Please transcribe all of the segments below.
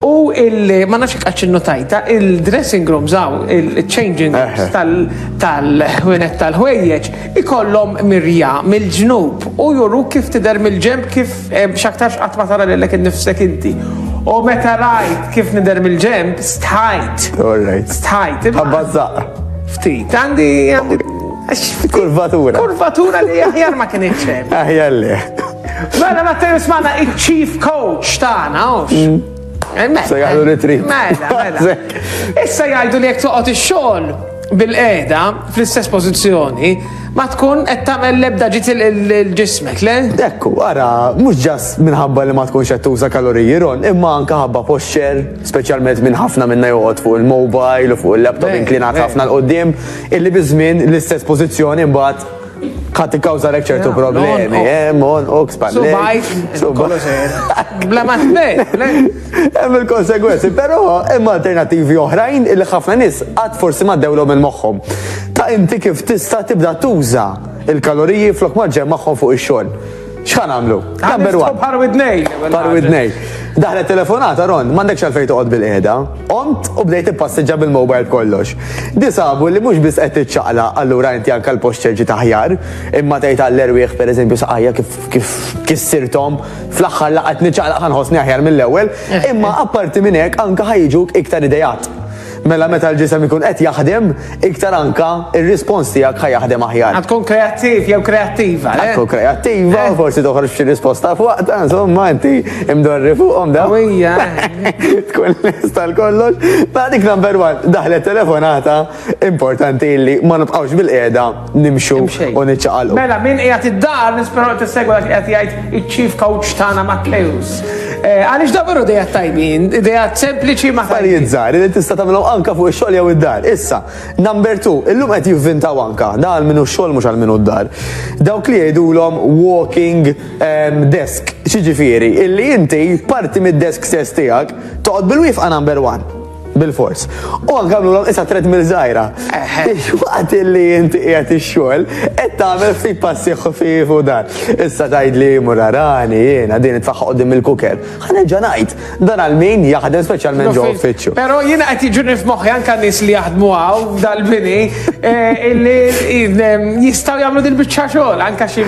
U il ma nafx kaċ notajta il-dressing room zaw, il-changing rooms tal-ħwienet tal-ħwejjeġ, ikollhom mirja mill-ġnub u juru kif tidher mill-ġemp kif X'aktarx qatt ma tara lilek innifsek inti. U meta rajt kif nidher mill-ġemp, stħajt. Alright. Stħajt. Abbażaq. Ftit, għandi għandi. Kurvatura. Kurvatura li aħjar ma kien iċċem. Aħjar li. Mela ma t-tajus maħna il-chief coach taħna, mm. Se jgħidu li trid. Mela, mela. Issa jgħidu li jekk toqgħod ix-xogħol bil-qeda fl-istess pożizzjoni ma tkun qed tagħmel l-ebda ġiet il-ġismek, le? Ekku, ara, mhux ġas minħabba li ma tkunx qed tuża kaloriji ron, imma anke ħabba posċer, speċjalment minn ħafna minna joqgħod fuq il-mobile u fuq il-laptop inklinat ħafna l-qoddim, illi biż-żmien l-istess pożizzjoni mbagħad Ħadd ikkawżalek ċertu problemi, eh, mon u kspan. Subajt, subajt. Bla ma Hemm il-konsegwenzi, però hemm alternattivi oħrajn li ħafna nies qatt forsi ma dewlhom minn moħħhom. Ta' inti kif tista' tibda tuża il-kaloriji flok ma ġemmagħhom fuq ix-xogħol. X'ħan għamlu? Number one. Bħar widnej. Bħar widnej. Daħlet telefonata, Ron, mandek xalfej toqgħod bil-qiegħda. Omt u bdejt ippasseġġa bil-mobile kollox. Disabu li mhux biss qed tiċċaqla allura inti anke l-post ċerġi taħjar, imma tgħid għall-erwieħ pereżempju saqajja kif kif kissirthom fl-aħħar laqgħet niċċaqla ħanħossni aħjar mill-ewwel, imma apparti minn hekk anke ħajġuk iktar idejat. Mela meta l-ġisem ikun qed jaħdem, iktar anka ir-rispons tiegħek ħa jaħdem aħjar. Għad tkun kreattiv jew kreattiva, le? Tkun kreattiva, eh? forsi toħroġ xi risposta fuqta, insomma inti imdorri fuqhom daw. Ija. Tkun lesta l-kollox. Ta' dik number one, daħlet telefonata importanti li ma nibqgħux bil-qiegħda nimxu u niċċaqalqu. Mela, min qiegħed id-dar nisperaw qed tissegwa dak qed jgħid iċ-chief coach tagħna Matteus. Eh, għaliex dabaru dejja tajbin, dejja sempliċi ma Affarijiet żgħar li tista' tagħmilhom anka fuq ix-xogħol jew id-dar. Issa, number 2, illum qed jivvintaw anka, da għal minu x-xogħol mhux għal minu d-dar. Dawk li jgħidulhom walking ehm, desk, xiġifieri, illi inti parti mid-desk stess tiegħek toqgħod bil-wifqa number 1. Bilfors. U anke għamlulhom issa treadmill żgħira. Waqt li inti qiegħed ix-xogħol, qed tagħmel ftit passi ħfief u dan. Issa tgħidli murarani jiena din itfaħħa qudiem il-kuker. Ħanerġa' ngħid, dan għal min jaħdem speċjalment ġo uffiċċju. Però jiena qed jiġuni f'moħħi anke nies li jaħdmu hawn dal-bini eh, illi jistgħu jagħmlu dil-biċċa xogħol anke xi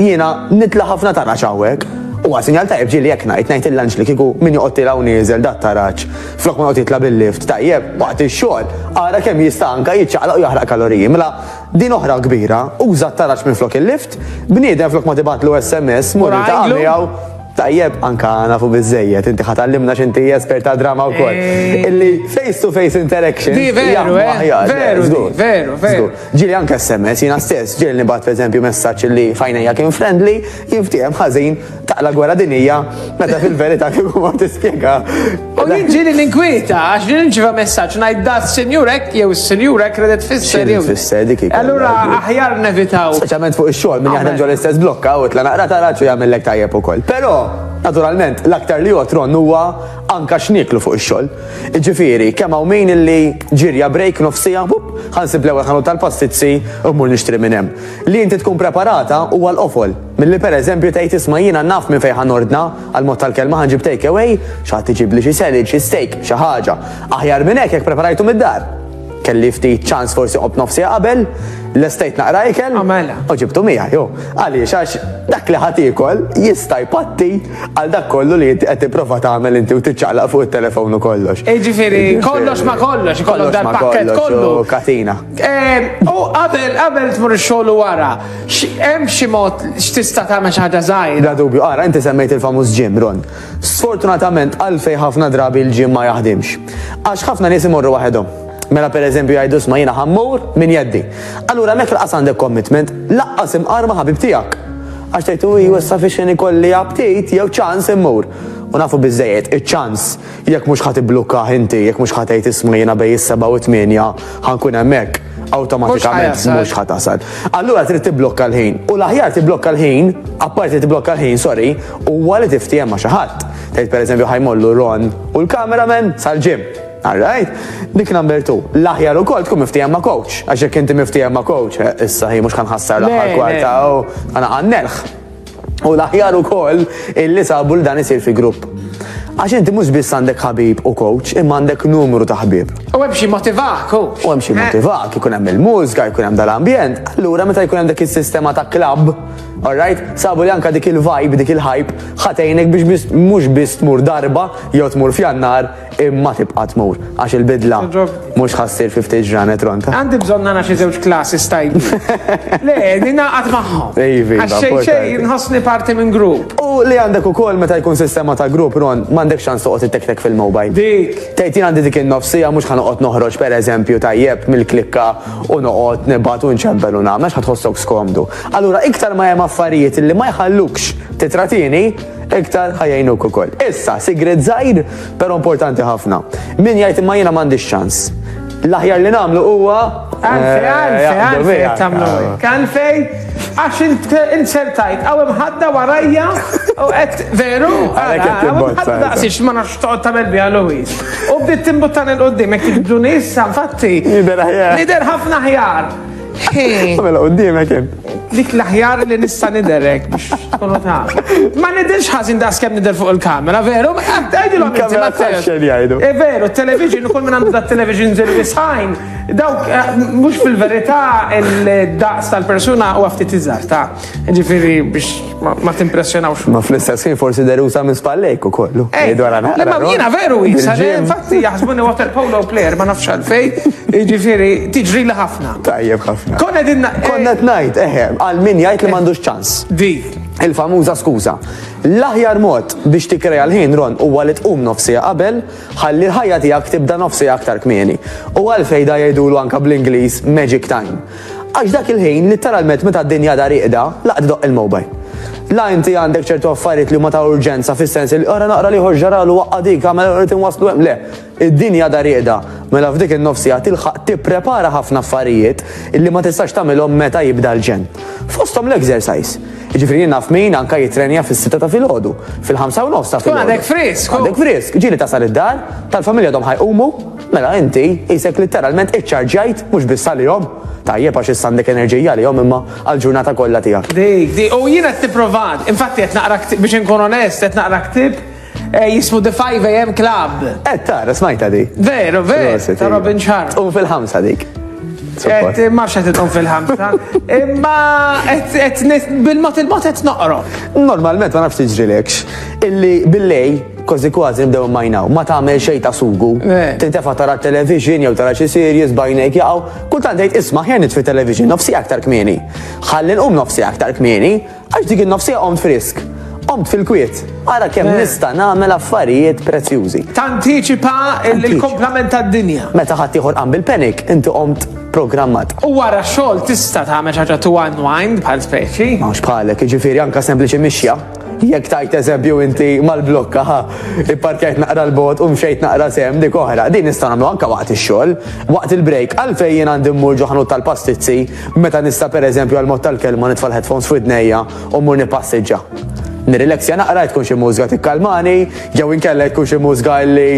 Jiena nitla' ħafna taraġ hawnhekk. Huwa sinjal tajjeb ġieli hekk ngħid, ngħid lill-anġli kieku min joqgħod tiela' u nieżel dat-taraġ flok ma joqgħod jitla' bil-lift tajjeb waqt ix-xogħol, ara kemm jista' anke jiċċaqlaq u jaħraq kaloriji. Mela din oħra kbira, uża t-taraġ minflok il-lift, bniedem flok ma tibgħatlu sms mur iltaqa' miegħu. Tajjeb, anke nafu biżżejjed, inti ħa tgħallimna x'inti espert ta' drama wkoll. Illi face to face interaction. Di veru, eh? Veru, veru, veru. Ġieli anke sms, jiena stess, ġieli nibgħat pereżempju messaġġ li f'għajnejja kien friendly, jinftiehem ħażin taqla' gwerra dinjija meta fil-verità kieku ma tispjega. U jien ġieli ninkwieta għax li nirċieva messaġġ ngħid da s-sinjur hekk jew is-sinjur hekk redet fisser jew. Fisser dik Allura aħjar nevitaw. Speċjalment fuq ix-xogħol minn jaħdem ġol istess blokka u tla naqra taraġ u jagħmellek tajjeb ukoll. Però, naturalment, l-aktar li jotron huwa Anka x'nieklu fuq ix-xogħol. Jiġifieri, kemm hawn min illi ġirja break nofs siegħa, bup, ħa nsib l-ewwel ħanut tal-pastizzi u mmur nixtri minn hemm. Li inti tkun preparata huwa l-qofol milli pereżempju tgħid isma' jiena naf minn fejn ħa nordna, għall-mod tal-kelma ħa nġib take away, xi ħadd iġibli xi salad, xi steak, xi ħaġa. Aħjar minn hekk jekk preparajtu mid-dar. Kelli ftit ċans forsi qobt nofs siegħa qabel, l-estate naqra ikel, u ġibtu miegħi. Għaliex għax dak li ħa tiekol jista' jpatti Għal dak kollu li qed tipprova tagħmel inti u tiċċaqlaq fuq it-telefon u kollox. Jiġifieri kollox ma kollox, ikollok dal-pakkett kollu. Katina. Eh, u qabel qabel tmur ix-xogħol wara, hemm xi mod x'tista' tagħmel xi ħaġa żgħira. Da dubju, ara inti semmejt il-famuż ġim, Ron. Sfortunatament għalfej ħafna drabi l-ġim ma jaħdimx. Għax ħafna nies imorru waħedhom. Mela per eżempju jgħidu sma jiena ħammur minn jeddi. Allura mek laqas għandek commitment, laqqas imqar ma' ħabib tiegħek. Għax tgħid u hu issa fiex ikolli aptit jew ċans immur. U nafu biżejjed, iċ-ċans jekk mhux ħadd iblukka inti, jekk mhux ħadd tgħid isma jiena bej is-seba' u tmienja ħankun hemmhekk awtomatikament mhux ħadd tasal. Allura trid tiblokka l-ħin. U l-aħjar tiblokka l-ħin, apparti tiblokka l-ħin, sorry, huwa li tiftijem ma' xi ħadd. Tgħid pereżempju ħajmollu Ron u l-cameraman sal-ġim. All right? Dik number two. L-aħjar ukoll tkun miftiehem ma' coach. Għax jekk inti miftiehem ma' coach, eh, issa hi mhux ħanħassar l-aħħar kwarta u ħanaqannelħ. U l-aħjar ukoll illi sabu l-dan isir fi grupp. Għax inti mhux biss għandek ħabib u coach, imma għandek numru ta' ħbib. U hemm xi motivak, coach. U hemm xi eh. motivak, ikun hemm il-mużika, ikun hemm dal-ambjent. Allura meta jkun hemm dik is-sistema ta' klabb, alright, sabu li anka dik il-vibe, dik il-hype, ħatejnek biex mhux biss tmur darba jew tmur fjannar, Imma tibqa' tmur, għax il-bidla mhux ħa ssir fi ftit ġranet, Ronta. Għandi bżonn nara xi żewġ classes tajbin. Le, ningħaqad magħhom. Iva, Għax xejn importanti. xejn nħossni parti minn grupp. U li għandek ukoll meta jkun sistema ta' grupp, Ron, m'għandekx ċans toqgħod ittektek fil-mobile. Dik. Tgħid jien għandi dik in-nofs siegħa mhux ħa noqgħod noħroġ pereżempju tajjeb mill-klikka u noqgħod nibgħat u nċempel u nagħmel għax ħa tħossok skomdu. Allura iktar ma hemm affarijiet li ma jħallukx titratini, iktar ħajjnuk ukoll. Issa, sigret żgħir, però importanti ħafna. Min jgħid imma jiena m'għandix ċans. L-aħjar li nagħmlu huwa Għalfej, eh, għalfej, jaqbdu għalfej, miegħek. eh, tamlu. Għalfej, għax insertajt, għaw imħadda warajja, u għet veru, Għalhekk qed timbozza, imħadda issa. daqsix ma nafx toqgħod tagħmel biha Louis. U bdiet timbuttan il qoddim jekk tibdu nissa, infatti. Jidher aħjar. Jidher ħafna ħjar. Mela quddiemek hemm. Dik l-aħjar li nista' niderek biex tkunu ta'. Ma nidirx ħażin daqs kemm nidher fuq il-kamera, veru? Għidilhom inti ma tħaxxen jgħidu. E veru, television ukoll minn għandu dat television żil wisħajn. Dawk eh, mhux fil-verità il-daqs tal-persuna u ftit iżgħar ta' ġifieri biex Ma timpressjonawx. Ma fl-istess ħin forsi derusa minn spallejk u kollu. Ej, dwar għana. Ma jina veru jisa, infatti jaħsbuni water polo player ma nafx għalfej, ġifiri, tiġri li ħafna. Tajjeb ħafna. Konna dinna. Eh, Konna t-najt, eħe, eh, għal min jajt li mandux ċans. Di. Il-famuża skuza. L-aħjar mod biex tikreja l-ħin ron u għalit um nofsija qabel, ħalli l-ħajja tijak tibda nofsija aktar kmieni. U għalfej da jgħidulu anka bl-Inglis Magic Time. Għax dak il-ħin, litteralment meta d-dinja għadha rieqda, laqgħet idoqq il-mowbajl. La inti għandek ċertu affarijiet li huma ta' urġenza fis-sens li ora naqra li ġaralu waqqa' dik għamel irid inwasslu hemm le. Id-dinja għadha rieqda, mela f'dik in-nofsija tilħaq tipprepara ħafna affarijiet illi ma tistax tagħmilhom meta jibda l-ġenn. Fosthom l-exercise. Ġifieri jien naf min anke jitrenja fis-sitta ta' filgħodu, fil-ħamsa u nofs ta' filgħodu. Għadek frisk. Għadek frisk. Ġieli tasal id-dar, tal-familja dom ħajqumu, Mela inti qisek litteralment iċċarġjajt mhux biss għalihom. Tajjeb għax issa għandek enerġija għalihom imma għall-ġurnata kollha tiegħek. Dik, dik, u jiena qed nipprovat, infatti qed naqra biex inkun onest, qed naqra ktib eh, jismu The 5 AM Club. Qed tara smajta di. Veru, veru, ta' iva. Robin Sharp. U fil-ħamsa dik. Et ma fxet idhom fil-ħamsa. Imma et bil-mot il-mot et noqro. Normalment ma nafx tiġri lekx. Illi billej Kważi kważi nibdew immajnaw, ma tagħmel xejn ta' sugu. Eh. Tintefa' tara television jew tara xi series bajnejk jaqgħu. Kultant tgħid isma' ħjar nitfi television nofsi aktar kmieni. Ħalli nqum nofsi aktar kmieni għax dik in-nofsija qomt frisk. Qomt fil-kwiet. Ara kemm eh. nista' nagħmel affarijiet prezzjużi. Tantiċipa l-komplament tad-dinja. Meta ħadd ieħor qam bil-panic, inti qomt programmat. U wara xogħol tista' tagħmel ħaġa tu unwind bħal speċi. Mhux bħalek, jiġifieri anke sempliċi mixja. Jekk tajt eżempju inti mal-blokka, ha, ipparkjajt naqra l-bot u mxejt naqra sem dik oħra, din nista' nagħmlu anke waqt ix-xogħol, waqt il-break, għalfejn jien għandi mmur ġo ħanut tal-pastizzi meta nista' pereżempju għall-mod tal-kelma nitfa' l-headphones f'widnejja u mmur nippassiġġa. Nirrileksja naqra jekk tkun xi mużika tikkalmani jew inkella jekk tkun xi mużika li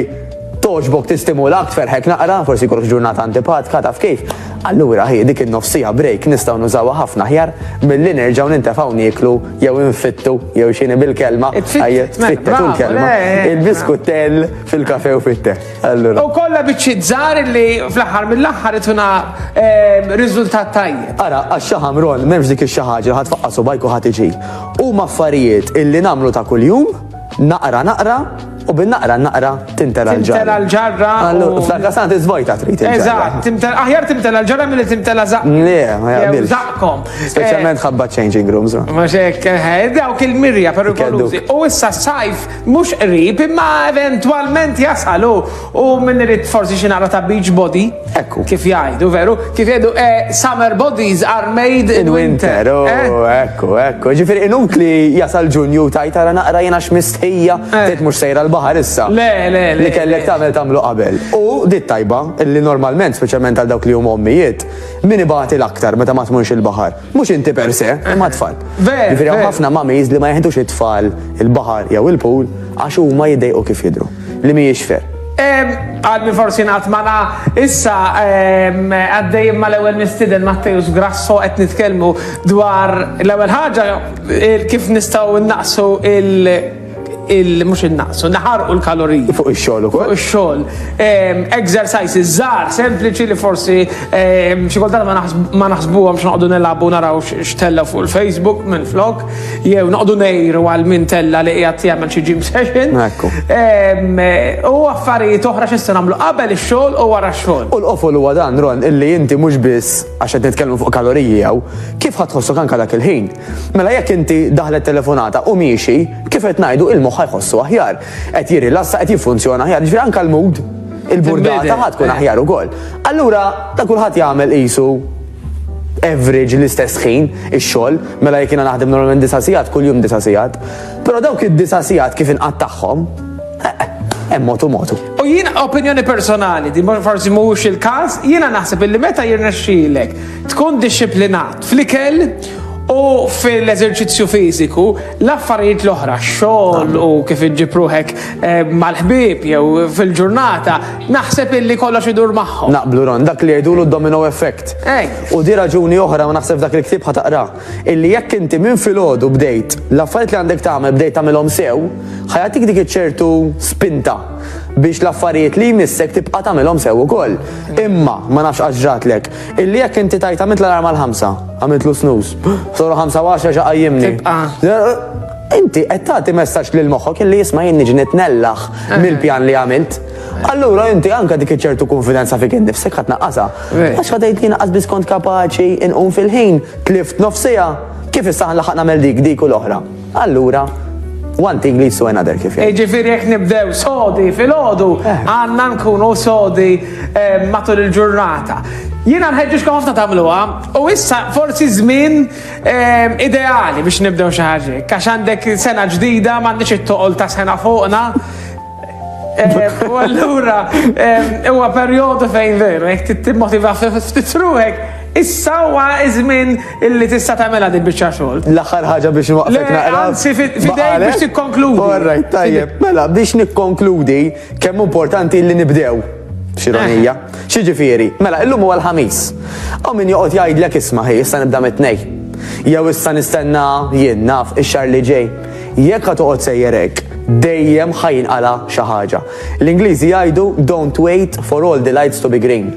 togħġbok tistimulak tferħek naqra, forsi jkollok ġurnata antipatka taf kif. Allura hi dik in-nofsija break nistgħu nużawha ħafna aħjar milli nerġgħu nintefgħu nieklu jew infittu, jew xini bil-kelma. Tfittet, kelma. Il-biskuttel fil-kafe u fitte. U kolla bieċi zar li fl-ħar mill-ħar ituna ehm, rizultat tajjeb. Ara, għax-xaħam ron, memx dik il-xaħġa, ħat faqqa subajku ħat iġi. U maffarijiet illi namlu ta' kull-jum, Naqra naqra u bin-naqra naqra tintela l-ġarra. Tintela l-ġarra. Fl-aktar sant iżvojta trid. Eżatt, aħjar tintela l-ġarra milli tintela zaqq. Le, ma jaqbilx. Zaqqkom. Speċjalment eh, ħabba changing rooms. Ma xek, eh, eh, dawk il-mirja perikolużi. U issa s-sajf mhux qrib imma eventwalment jasalu U min irid forsi xi naqra ta' beach body, Ekku. kif jgħidu, veru? Kif jgħidu, eh, summer bodies are made in winter. oh, eh? ekku, ekku. Ġifiri, inut li jasal ġunju tajt tara naqra jena xmistħija, Eh. tgħid mhux sejra l-baħar issa. Le, le, le. Li kellek tagħmel tagħmlu qabel. U dit tajba, li normalment, speċjalment għal dawk li huma ommijiet, min ibati l-aktar meta ma tmunx il-baħar. Mhux inti per se, imma tfal. Jiġifieri hawn ħafna mamis li ma jeħdux it-tfal il-baħar jew il-pool għax huma jiddejqu kif jidhru. Li mhijiex fer. Għadni forsi naqt mana issa għaddej ma l-ewel mistiden Mattejus Grasso qed nitkellmu dwar l-ewel ħaġa kif nistgħu naqsu il- il mhux innaqsu, naħarqu l-kaloriji. Fuq ix-xogħol ukoll. Fuq ix-xogħol. Ehm, exercises żgħar, sempliċi li forsi ehm, xi kultant ma naħsbuhom x'noqogħdu nilagħbu naraw x'tella fuq il-Facebook minn flok, jew noqogħdu ngħiru għal min tella li qiegħed jagħmel xi gym session. Ehm, u affarijiet oħra x'issa nagħmlu qabel ix-xogħol u wara x-xogħol. U l-qofol huwa dan Ron illi inti mhux biss għax qed nitkellmu fuq kaloriji jew kif ħadd tħossok anke dak il-ħin. Mela jekk inti daħlet telefonata u miexi, kif qed ngħidu, il-moħħ ħa jħossu aħjar. Qed jirrilassa, qed jiffunzjona aħjar, jiġifieri anke l-mood, il-burdata ħa tkun aħjar ukoll. Allura ta' kulħadd jagħmel qisu average l-istess ħin ix-xogħol, mela jekk jiena naħdem normalment disa' sigħat, kuljum disa' sigħat. Però dawk id-disa' sigħat kif inqattagħhom, eh, hemm motu motu. U jiena opinjoni personali, di forsi mhux il-każ, jiena naħseb illi meta jirnexxilek tkun dixxiplinat fl-ikel U fil-eżerċizzju fiżiku, l-affarijiet l-oħra, xogħol u kif iġġib ruħek eh, mal-ħbieb jew fil-ġurnata, naħseb illi kollox idur magħhom. Naqblu ron, dak li jgħidulu domino effect. U di raġuni oħra u naħseb dak il-ktib ħataqra. Illi jekk inti minn filgħodu bdejt, l-affarijiet li għandek tagħmel bdejt tagħmilhom sew, ħajatik dik iċ-ċertu spinta biex l-affarijiet li jmissek tibqa' tagħmilhom sew ukoll. Imma ma nafx għax ġratlek Illi jekk inti tajt għamilt l-alarm għal ħamsa, għamilt lu snus, soru ħamsa għaxra xa għajjimni. Inti qed tagħti messaġġ lil moħħok illi jisma' jien niġi nitnellaħ mill-pjan li għamilt. Allura inti anka dik ċertu konfidenza fik innifsek ħadd naqqasa. Għax ħadejt li naqqas biskont kapaċi inqum fil-ħin, tlift nofsija, kif issa ħanlaħaq nagħmel dik dik u l-oħra. Allura, one thing leads to another kif jgħid. Jiġifieri jekk nibdew sodi filgħodu, eh. għandna nkunu sodi eh, matul il-ġurnata. Jiena nħeġġiġkom ħafna tagħmluha u issa forsi żmien ehm, ideali biex nibdew xi ħaġa. Għax għandek sena ġdida m'għandix it-toqol ta' sena fuqna. Eh, u allura, eh, huwa perjodu fejn veru, jek tittimmotiva ftit ruħek, issa huwa iż-żmien illi tista' tagħmilha din biċċa xogħol. L-aħħar ħaġa biex nwaqfek naqra. Anzi, fidejk biex tikkonkludi. Orrajt, tajjeb, mela biex nikkonkludi kemm importanti li nibdew xironija. Eh. Xiġifieri, mela illum huwa l-ħamis. U min joqgħod jgħidlek isma' ħi issa nibda mit-tnej. Jew issa nistenna jien naf ix-xar li ġej. Jekk ħa toqgħod sejjer hekk, dejjem ħa jinqala' xi ħaġa. L-Ingliżi jgħidu don't wait for all the lights to be green.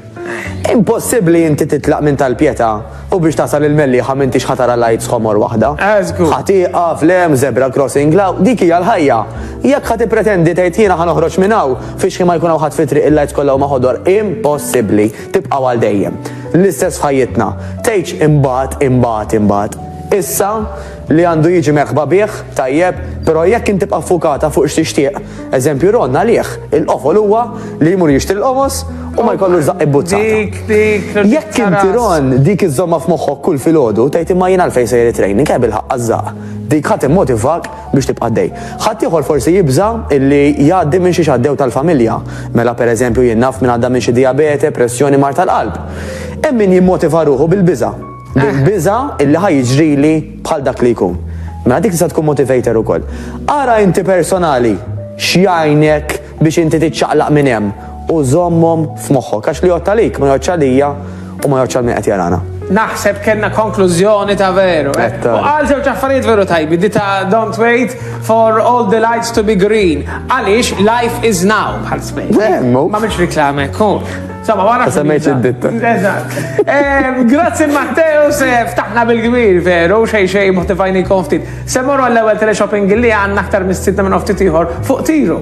Impossibbli inti titlaq minn tal-Pietà u biex tasal il-Mellieħa m'intix ħa tara lights ħomor waħda. Ħa tieqaf, le hemm zebra crossing, la dik hija l-ħajja. Jekk ħa tippretendi tgħid jiena ħa noħroġ minn hawn fiex ħin ma jkun hawn ħadd fit-triq il-lights kollha huma ħodor, impossibbli. Tibqgħu għal dejjem. L-istess f'ħajjitna. Tgħidx imbagħad, imbagħad, imbagħad. Issa, li għandu jiġi merħba bih, tajjeb, però jekk int tibqa' ffukata fuq x'tixtieq, eżempju Ron għalih il-qofol huwa li jmur jixtri l-qomos u ma jkollux żaqq ibbuzzata. Jekk inti Ron dik iżżommha f'moħħok kull filgħodu, tgħid imma jien għalfejn sejjer it-training, eh bilħaqq għaż-żaqq. Dik ħa timmotivak biex tibqa' għaddej. Ħadd ieħor forsi jibża' illi jgħaddi minn xi x'għaddew tal-familja. Mela pereżempju jien naf min għadda minn xi dijabete, pressjoni, mard tal-qalb. Hemm min jimmotiva ruħu bil-biża'. Bil-biża' illi ħa jiġrili bħal dak li jkun. Mela dik tista' tkun motivator ukoll. Ara inti personali x'jgħinek biex inti tiċċaqlaq minn hemm u żommhom f'moħħok għax li jgħodd għalik ma jgħoddx għalija u ma jgħoddx għal min qed jarana. Naħseb kellna konklużjoni ta' veru. U qal żewġ affarijiet veru tajbi, di ta' don't wait for all the lights to be green. Għaliex life is now bħal smejt. M'għamilx riklama hekk hu. Sama wara. Semmejt id-ditta. Eżatt. Ehm, grazzi Matteo se ftaħna bil-kbir veru xej xej motivajni konftit. Se morru għall-ewwel teleshopping li għandna aktar mis-sitta minn oftit ieħor fuq tiru.